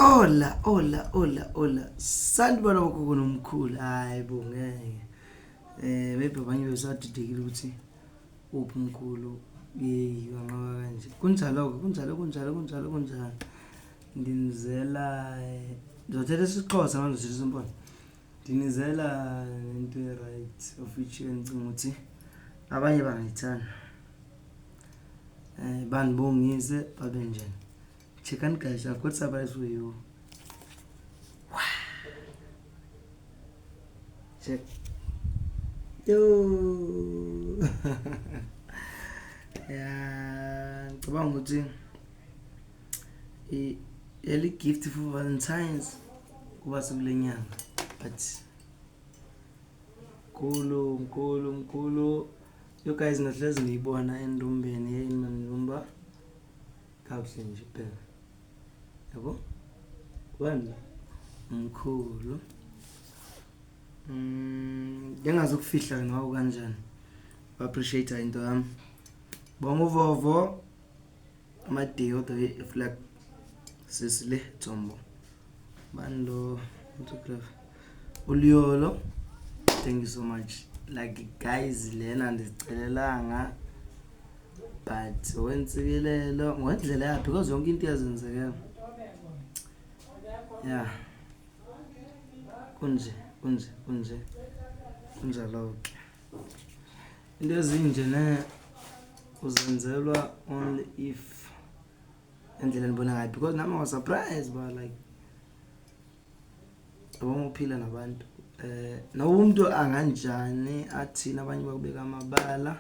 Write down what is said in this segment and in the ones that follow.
Ola ola ola ola sanibona bogogo nomkhulu hayi bo ngeke eh maybe abanye besadidekile ukuthi uphi umkhulu yeyi wanqaba kanje kunjalo-ke kunjalo kunjalo kunjalo kunjalo nginizela eh, ngizothetha isixhosa manje sisimbona Ndinizela into e-right of which endicinga ukuthi abanye bangayithanda um bandibongise babe njena checkani guys i've got surprise for you check yo ya ngicabanga ukuthi yali gift for valentines kuba sekule nyanga but mkhulu mkhulu mkhulu yo guys nahlezi ngiyibona endumbeni yeyini manilumba kakuhle nje phela yabo wani mkhulu mm, ngengazi ukufihla nawo kanjani ba-appreciate into yami bonga uvovo Amadiki kodwa ke flag sisi le Tsombo. Bani lo photograph? Uliyolo. Thank you so much. Like guys lena ndizicelelanga but wensikelelo ngendlela yakhe because yonke into yazenzekela. Yeah. Kunje, kunje, kunje. Kunjalo ke. Into ezinje ne uzenzelwa only if endlela ndibona ngayo because nami was surprise ba like yabona uphila nabantu eh noba umuntu anganjani athini abanye bakubeka amabala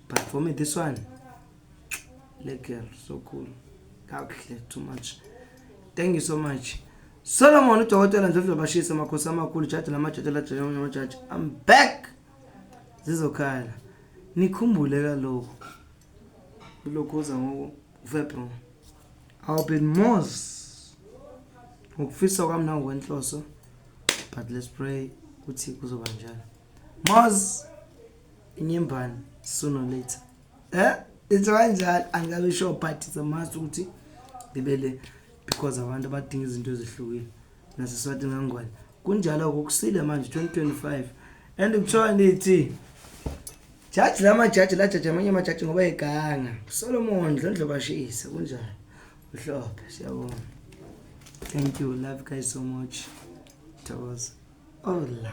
but for me this one le girl so cool kakuhle too much thank you so much solomon udokotela ndlodlobashisa amakhosi amakhulu jaji lamajaji lajaji amajaji i'm back zizokhala nikhumbule kaloku kulokhuza ngoku ufebron i'll be mos ngokufisa kwami nangokwenhloso but let's pray ukuthi kuzoba njalo mos inyembane sooner later eh into kanjalo angikabe sure but it's a must ukuthi ngibele because abantu abadinga izinto ezihlukile naseswatini kangwane kunjalo kukusile manje 2025 and kuthiwa nithi jaji la majaji lajaji amanye amajaji ngoba eganga solomon ndlondlo bashisa kunjalo mhlophe siyabonga thank you love guys so much thokoza ola